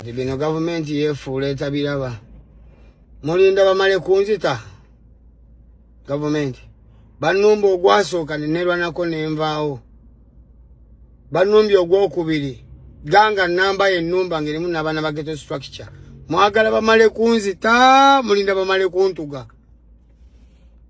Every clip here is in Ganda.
kati bino gavumenti yefuula etabiraba mulinda bamale kunzita gavumenti banumba ogwasooka nenerwanako nenvaawo banumbye ogwokubiri ganga namba yenumba ngerimu nabaana ba geto structure mwagala bamale kunzita mulinda bamale kuntuga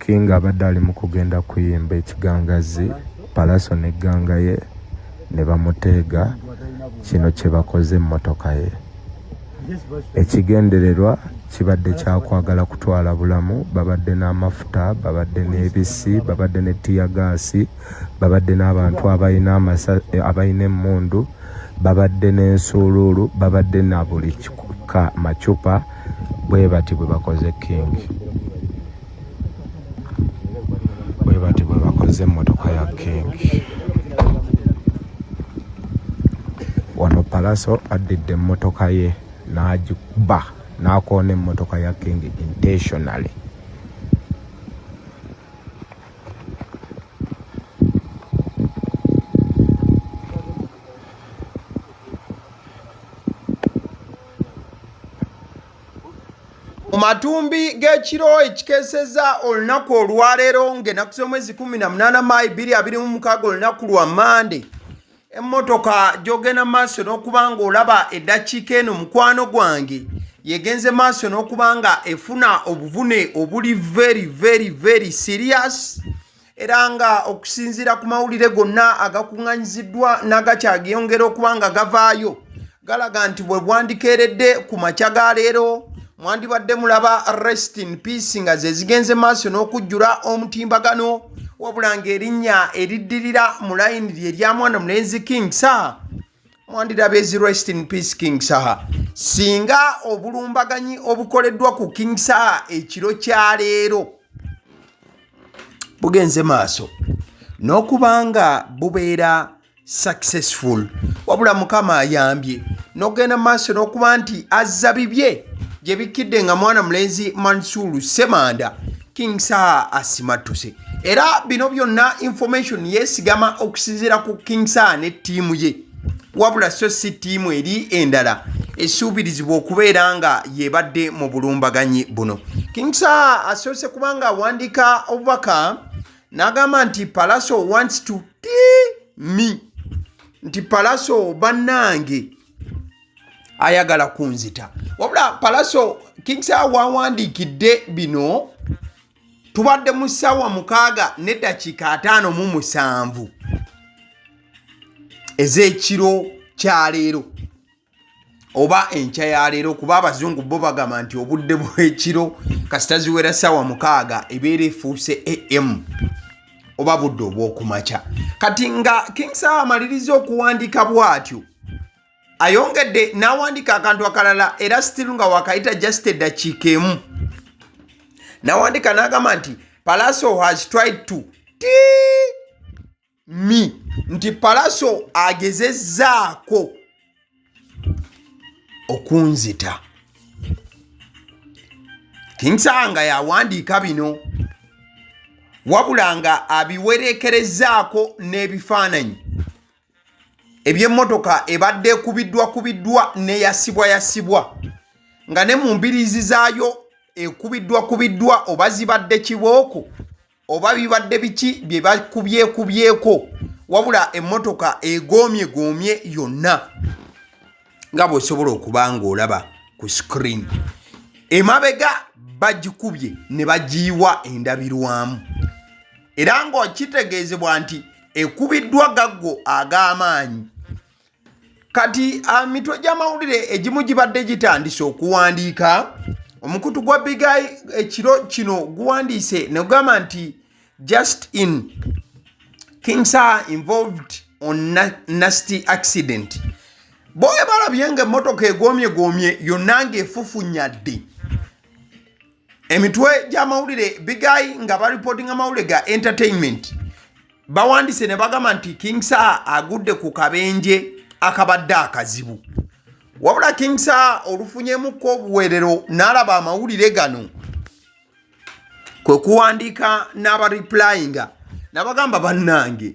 king abadde ali mu kugenda kuyimba ekigangazi palaso negganga ye ne bamuteega kino kye bakoze emmotoka ye ekigendererwa kibadde kyakwagala kutwala bulamu babadde n'amafuta babadde n'ebisi babadde ne tiyagaasi babadde n'abantu abalina emmundu babadde n'ensuuluulu babadde na buli kika macupa bwebati bwebakoze king bwebati bwebakoze emotoka ya king wano palaso addidde emotoka ye n'agikuba n'akoona emmotoka ya king intentionally mu matumbi g'ekiro ekikeeseza olunaku olwaleero ng'enaku z'omwezi 18 maayi 226 olunaku lwa mande emmotoka gyogenda maaso n'okuba ng'olaba eddakiika eno mukwano gwange yegenze maaso n'okuba nga efuna obuvune obuli very very very serious era nga okusinziira ku mawulire gonna agakuŋŋanyiziddwa n'agakyageyongera okuba nga gavaayo galaga nti bwe bwandikeeredde ku makya ga leero mwandibadde mulaba rest in peace nga ze zigenze maaso n'okujjula omutimbagano wabula ng'erinnya eriddirira mu layini lye lya mwana mulenzi king sa mwandirabye zi rest in peace king saha singa obulumbaganyi obukoleddwa ku king saha ekiro kya leero bugenze maaso n'okubanga bubeera successful wabula mukama ayambye n'okugenda maaso n'okuba nti azza bibye gye bikkidde nga mwana mulenzi mansuulu semanda King Saha asimattuse era bino byonna information yesigama okusinziira ku King Saha ne ttiimu ye wabula so si ttiimu eri endala esuubirizibwa okubeera nga yebadde mu bulumbaganyi buno King Saha asoose kubanga awandiika obubaka n'agamba nti Palaso wants to tea me nti Palaso bannange ayagala kunzita wabula palaso kingsa wawandiikidde bino tubadde mu ssaawa mukaaga neddakiika ataano mu musanvu ez'ekiro kyaleero oba enkya ya leero kuba abazungu bo bagamba nti obudde bw'ekiro kasita ziwera ssaawa mukaaga ebeera efuuse am oba budde obwokumakya kati nga king sawa amaliriza okuwandiika bwatyo ayongedde n'awandiika akantu akalala era still nga wakayita just eddakiika emu n'awandiika n'agamba nti palaso has tried to ti mi nti palaso agezezzaako okunzita kinsaba nga yawandiika bino wabula nga abiwereekerezaako n'ebifaananyi eby'emmotoka ebadde ekubiddwa kubiddwa neyasibwa yasibwa nga ne mu mbiriizi zaayo ekubiddwa kubiddwa oba zibadde kibooko oba bibadde biki bye bakubyekubyeko wabula emmotoka egoomye goomye yonna nga bw'osobola okuba ng'olaba ku screen emabega bagikubye ne bagiyiwa endabirwamu era ng'okitegeezebwa nti ekubiddwa gaggo ag'amaanyi kati ah, mitwe gy'amawulire egimu gibadde gitandise okuwandiika omukutu gwa bigai ekiro kino guwandiise negugamba nti just in kings are involved on nasty accident boye balabye nga emmotoka egomye gomye yonna ngaefufunyadde emitwe gy'amawulire bigayi nga baripotinga amawulire ga entertainment bawandise ne bagamba nti king sa agudde ku kabenje akabadde akazibu wabula king sa olufunyemukko obuweerero n'alaba amawulire gano kwe kuwandiika n'abariplayinga nabagamba bannange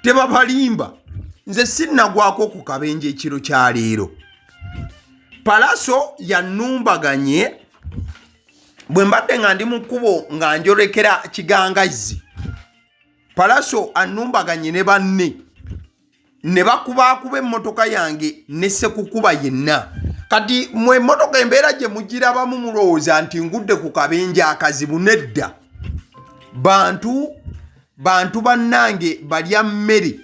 tebabalimba nze sinnagwako ku kabenje ekiro kya leero palaso yanumbaganye bwe mbadde nga ndi mu kkubo nga njolekera kigangazzi palaso anumbaganye ne banne ne bakubaakuba emmotoka yange ne sekukuba yenna kati mwe emmotoka embeera gye mugirabamu mulowooza nti ngudde ku kabenja akazibu nedda bantu bantu bannange balya mmere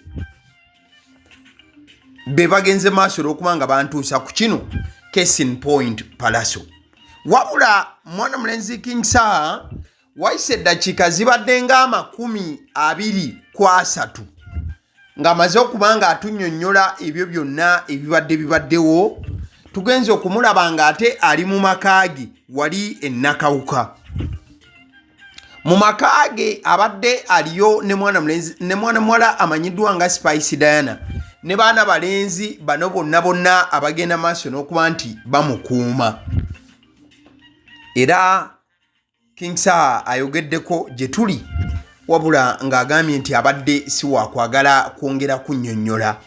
be bagenze maaso olwokuba nga bantuusa ku kino casin point palaso wabula mwana mulenzi king saa wayise eddakiika zibadde ng'amakumi abiri ku asatu ng'amaze okuba nga atunyonnyola ebyo byonna ebibadde bibaddewo tugenze okumulaba ng'ate ali mu maka ge wali ennakawuka mu maka ge abadde aliyo ne mwana mulenzi ne mwana muwala amanyiddwa nga spice diana ne baana balenzi bano bonna bonna abagenda maaso n'okuba nti bamukuuma era King Saha ayogeddeko gye tuli wabula ng'agambye nti abadde si waakwagala kwongera kunnyonnyola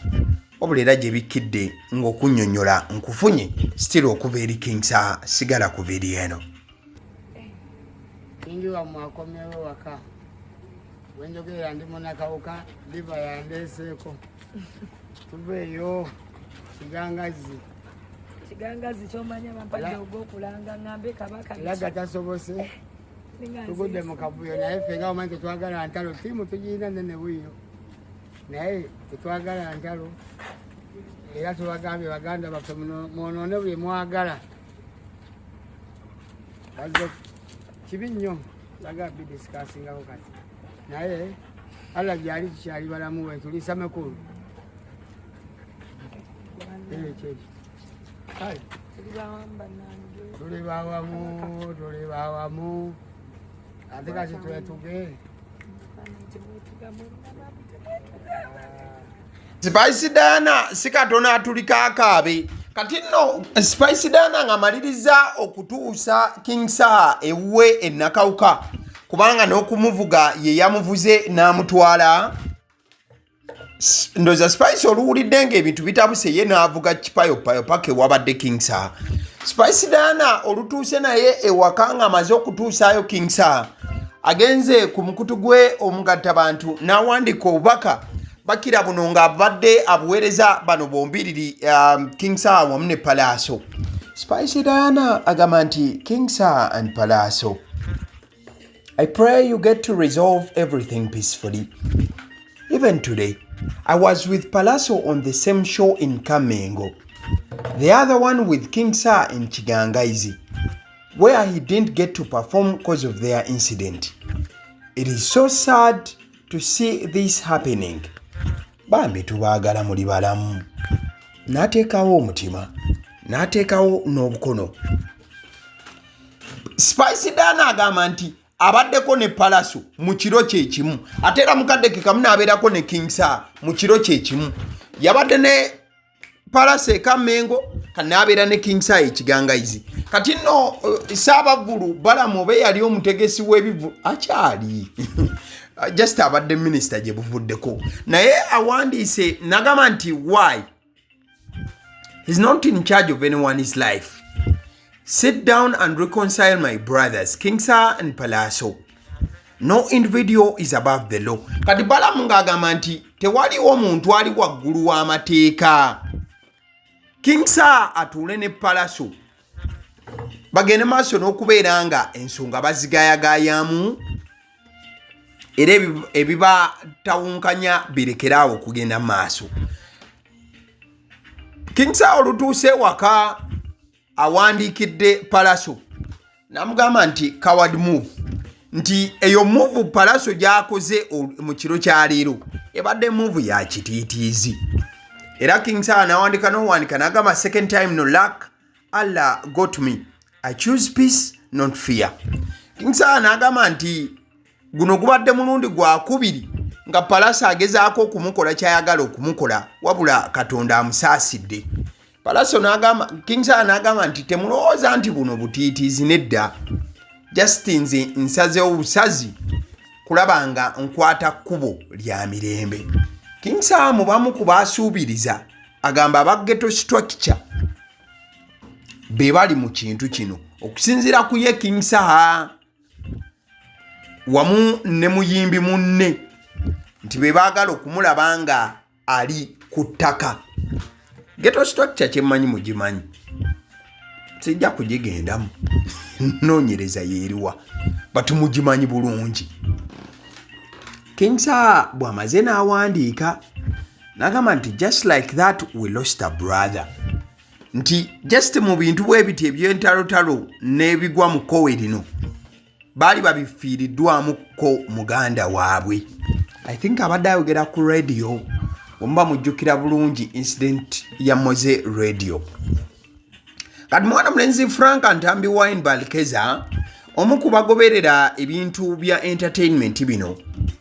wabula era gye bikkidde ng'okunnyonnyola nkufunye sitira okuva eri King Saha sigala ku vidiyo eno kingi wamwe akomewo waka wenjogerera ndi munakawuka biva yandeeseeko tuveeyo kigangazi kigangazi kyomanya bampadde ogwokulanga ngambe kabaka laga tasobose eh, tugudde mu kavuyo naye ffe nga omanyi tetwagala ntalo tiimu tugirina nene buyo naye tetwagala ntalo era tubagambye baganda baffe mwonoone buli mwagala bazo kibi nnyo baga bidisikaasingako kati naye alla gyali tukyali balamu wetulisa makulu tuli bawamu tuli bawamu ate kati twetuge Spice Diana si katono atulika akaabe kati nno Spice Diana ng'amaliriza okutuusa King Saha ewuwe ennakawuka kubanga n'okumuvuga ye yamuvuze n'amutwala ndoza Spice oluwulidde ng'ebintu bitabuse ye n'avuga kipayopayo paka ewabadde King Saha Spice Diana olutuuse naye ewaka ng'amaze okutuusaayo King Saha agenze ku mukutu gwe omugattabantu n'awandiika obubaka bakira buno nga abadde abuweereza bano bombiriri um, king saa wamu ne palaaso spicy diana agamba nti king saa and palaaso i pray you get to resolve everything peacefully even today i was with palaaso on the same show in kamengo the other one with king saa in kigangaizi where he didn't get to perform because of their incident it is so sad to see this happening bambi tubaagala muli balamu n'ateekawo omutima n'ateekawo n'obukono spice dana agamba nti abaddeko ne palaso mu kiro kyekimu ate era mukadde kekamu n'abeerako ne kingsa mu kiro kyekimu yabadde ne palasa eka mengo kanabeera ne king sa ekigangaizi kati no eh, saabavulu balamu oba eyali omutegesi w'ebivulu akyali ah, just abadde minisita gye buvuddeko naye awandiise nagamba nti why is not in charge of anyone's life Sit down and reconcile my brothers, King Sir and Palaso. No individual is above the law. Kati Balamu ng'agamba nti tewaliwo muntu ali waggulu w'amateeka. King Sir atuule ne Palaso. Bagende maaso n'okubeera nga ensonga bazigayagayamu era ebibatawunkanya birekere awo okugenda mu maaso kingsa olutuuse ewaka awandiikidde palaso namugamba nti coward move nti eyo muvu palaso gyakoze mu kiro kya leero ebadde muvu ya kitiitiizi era kingsa nawandika nowandika nagamba second time no luck allah got me i choose peace not fear kingsala n'agamba nti guno gubadde mulundi gwakubiri nga palasi agezaako okumukola kyayagala okumukola wabula katonda amusaasidde palaso nagamba kingsala nagamba nti temulowooza nti buno butiitiizi nedda just nze nsaze obusazi kulaba nga nkwata kkubo lya mirembe kingsala mubamu ku baasuubiriza agamba aba geto structure be bali mu kintu kino okusinziira ku ye king saha wamu ne muyimbi munne nti be baagala okumulaba nga ali ku ttaka geto structure kyemmanyi mugimanyi sijja kugigendamu noonyereza yeeriwa but mugimanyi bulungi king saha bw'amaze n'awandiika nagamba nti just like that we lost a brother nti just mu bintu bwe biti ebyentalotalo n'ebigwa mu kkowe lino baali babifiiriddwamu ko muganda waabwe i think abadde ayogera ku radio omuba mujjukira bulungi incident ya moze radio kati mwana mulenzi frank ntambi wine balkeza omu ku bagoberera ebintu bya entertainment bino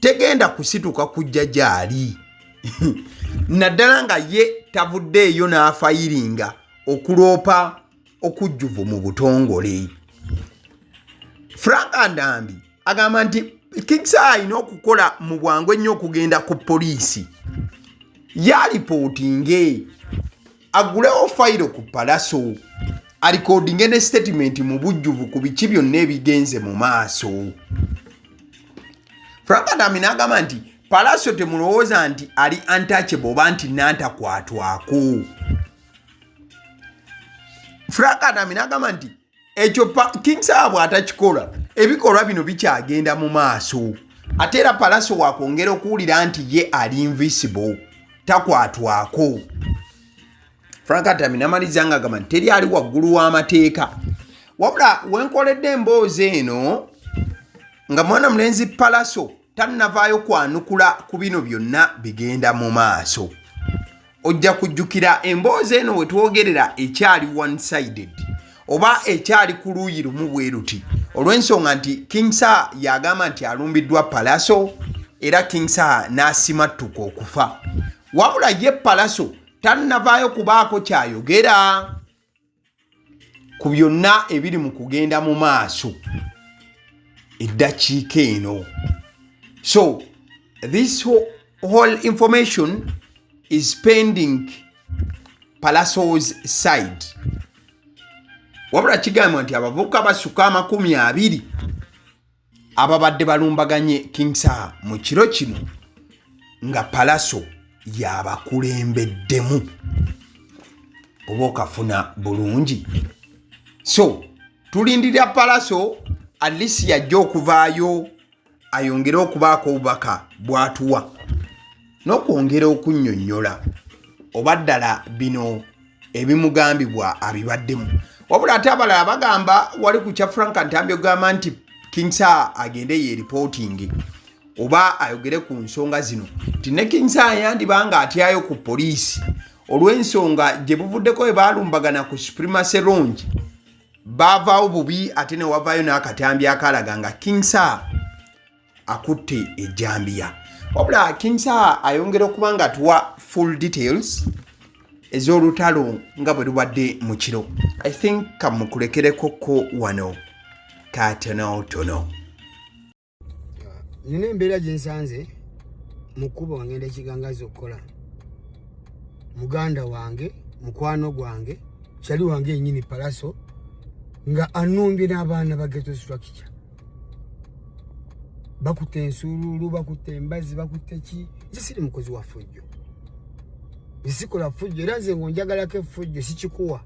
tegenda kusituka kujja gyali naddala nga ye tavuddeeyo n'afayiringa okuloopa okujjuvu mu butongole frank andambi agamba nti kings alina okukola mu bwangu ennyo okugenda ku poliisi yalipootinge agulewo fayiro ku palaso alikodinge ne sitatimenti mu bujjuvu ku biki byonna ebigenze mu maaso frank adami n'agamba nti palaso temulowooza nti ali antachable oba nti nantakwatwako frank adami n'agamba nti ekyo king sawa bwatakikola ebikolwa bino bikyagenda mu maaso ate era palaso wakwongera okuwulira nti ye ali invisible takwatwako frank atami namaliza nga agamba nti teri ali waggulu w'amateeka wabula wenkoledde emboozi eno nga mwana mulenzi palaso tannavaayo kwanukula ku bino byonna bigenda mu maaso ojja kujjukira emboozi eno we twogerera ekyali one sided oba ekyali ku luuyi lumu bwe luti olw'ensonga nti king sa yagamba nti alumbiddwa palaso era king sa n'asimattuka okufa wabula ye palaso tannavaayo kubaako kyayogera ku byonna ebiri mu kugenda mu maaso eddakiika eno so this whole information is pending palasos side wabula kigambibwa nti abavubuka basuka amakumi abiri ababadde balumbaganye King Saha mu kiro kino nga Palaso yabakulembeddemu oba okafuna bulungi so tulindirira Palaso alisi yajja okuvaayo ayongere okubaako obubaka bw'atuwa n'okwongera okunnyonnyola oba ddala bino ebimugambibwa abibaddemu wabula ate abalala bagamba wali ku kya frank ntambi okugamba nti king sa agende yeeripootinge oba ayogere ku nsonga zino nti ne king sa yandiba nga atyayo ku poliisi olw'ensonga gye buvuddeko bwe baalumbagana ku supremacy longi baavaawo bubi ate ne wavaayo n'akatambi akalaga nga king sa akutte ejjambiya wabula kinsa ayongera okuba nga atuwa full details ez'olutalo nga bwe lubadde mu kiro i think kamukulekereko ko wano katonotono nina embeera gye nsanze mu kkuba wangenda ekigangaza okukola muganda wange mukwano gwange kyali wange yenyini palaso nga anumbye n'abaana bageto structure bakutte ensuuluulu bakutte embazi bakutte ki nze siri mukozi wa fujjo nzisikola fujjo era nze ngaonjagalako efujjo sikikuwa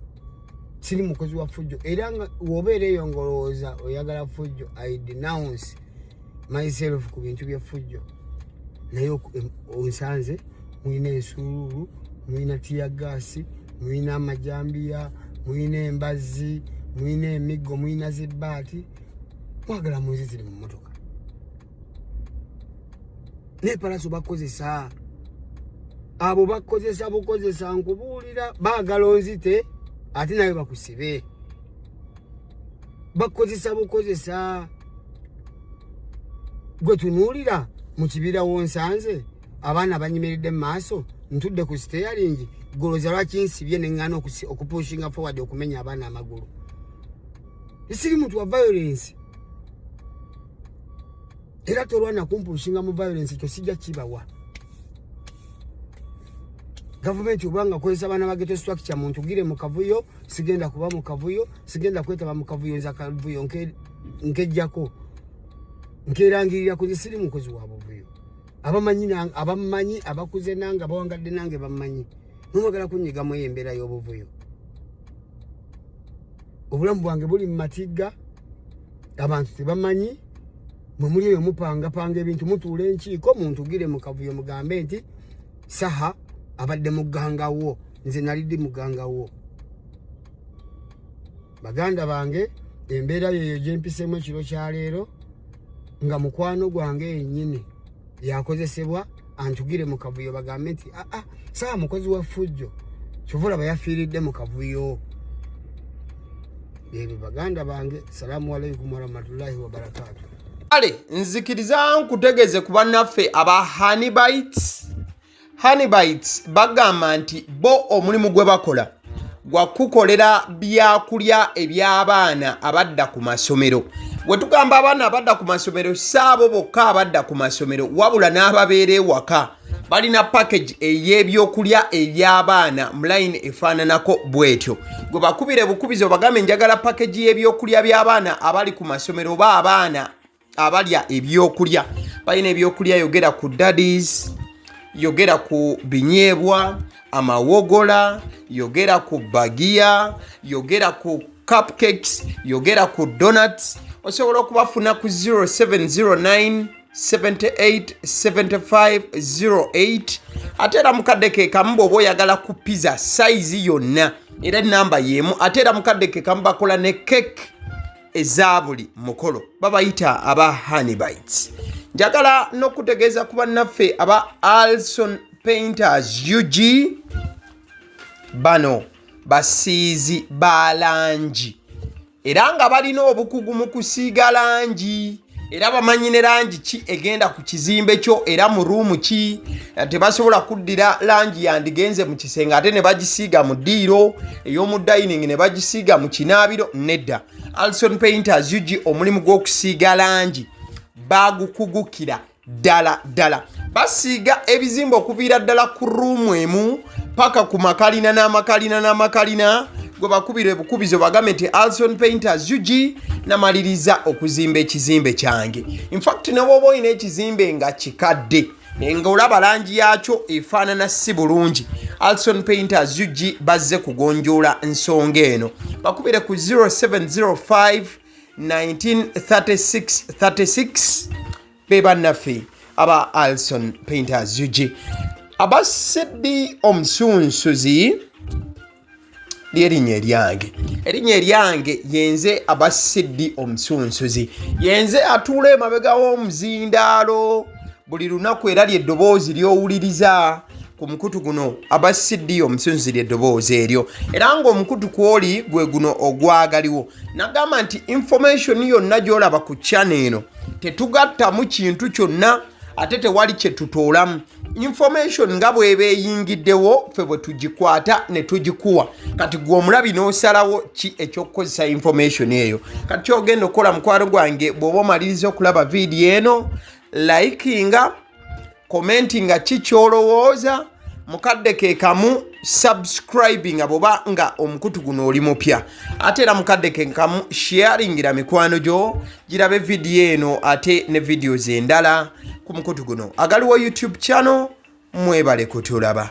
siri mukozi wa fujjo era nga wobeera eyo ngaolowooza oyagala fujjo i denounce myself ku bintu byefujjo naye onsanze mulina ensuuluulu mulina tiyagaasi mulina amajambiya mulina embazi mulina emiggo mulina zibbaati mwagala munzi ziri mu motoka nepalaso bakozesa abo bakozesa bukozesa nkubuulira baagala onzite ate nawe bakusibe bakukozesa bukozesa gwe tunuulira mu kibira wonsanze abaana banyimiridde mu maaso ntudde ku siteyalingi goloza lwaki nsibye neŋŋana okupushinga forward okumenya abaana amagulu siri muntu wa violence era tolwana kumpushinga mu violence ekyo sijja kibawa gavumenti obanga akozesa baana ba geto structure muntu gire mu kavuyo sigenda kuba mu kavuyo sigenda kwetaba mu kavuyo nza kavuyo nkejjako nkerangirira ku zisiri mukozi wa buvuyo abamanyi abamanyi abakuze nange abawangadde nange bamanyi nomwagala kunyiga mu embeera y'obuvuyo obulamu bwange buli mu matigga abantu tebamanyi mwe muli eyo mupangapanga ebintu mutuula enkiiko muntugire mu kavuyo mugambe nti saha abadde muganga wo nze nalidi muganga wo baganda bange embeera yeyo gyempisemu ekiro kyaleero nga mukwano gwange yenyini yakozesebwa antugire mu kavuyo bagambe nti aa ah, ah, saa mukozi wa fujjo kyovula bayafiiridde mu kavuyo ebyo baganda bange salaamu aleikum warahmatullahi wabarakatu kale nzikiriza nkutegeze ku bannaffe aba hanibites hanibites bagamba nti bo omulimu gwe bakola gwa kukolera byakulya eby'abaana abadda ku masomero we tugamba abaana abadda ku masomero saabo bokka abadda ku masomero wabula n'ababeera ewaka balina package ey'ebyokulya eby'abaana mu layini efaananako bw'etyo gwe bakubire bukubizi obagambe njagala package y'ebyokulya by'abaana abali ku masomero oba abaana abalya ebyokulya balina ebyokulya yogera ku dadis yogera ku binyeebwa amawogola yogera ku bagiya yogera ku cupcakes yogera ku donuts osobola okubafuna ku 0709 787508 ate era mukadde kekamu bwoba oyagala ku pizza sayizi yonna era enamba yemu ate era mukadde kekamu bakola ne cake eza buli mukolo babayita aba hanibites njagala n'okutegeeza ku bannaffe aba alson painters ug bano basiizi ba langi era nga balina obukugu mu kusiiga langi era bamanyi ne langi ki egenda ku kizimbe kyo era mu ruumu ki eh, tebasobola kuddira langi yandigenze mu kisenge ate ne bagisiiga mu ddiiro ey'omu dining ne bagisiiga mu kinaabiro nedda alson painters ug omulimu gw'okusiiga langi bagukugukira ddala ddala basiiga ebizimba okuviira ddala ku ruumu emu paka ku makalina n'amakalina n'amakalina gwe bakubira ebukubizo bagambe nti alson painters ug namaliriza okuzimba ekizimbe kyange infact nebwoba olina ekizimbe nga kikadde nga olaba langi yaakyo efaanana si bulungi alson painters ug bazze kugonjoola nsonga eno bakubire ku 0705 1936 be bannaffe aba alson painters ug aba sidi omusunsuzi lyerinnya eryange erinnya eryange yenze aba sidi omusunsuzi yenze atuula emabega w'omuzindaalo buli lunaku era lyeddoboozi lyowuliriza ku mukutu guno aba cd omusinzira eddoboozi eryo era ngaomukutu kwoli gwe guno ogwagaliwo nagamba nti information yonna gyolaba ku chana eno tetugattamu kintu kyonna ate tewali kyetutoolamu information nga bweba eyingiddewo ffe bwe tugikwata ne tugikuwa kati gwe omulabi n'osalawo ki ekyokukozesa information eyo kati kyogenda okukola mukwano gwange bw'oba omaliriza okulaba vidiyo eno likinga komenti nga ki kyolowooza mukadde ke kamu subscribing abo ba nga omukutu guno oli mupya ate era mukadde ke kamu sharingira mikwano gyo girabe vidiyo eno ate ne vidiyo zendala ku mukutu guno agaliwo youtube channel mwebale kutulaba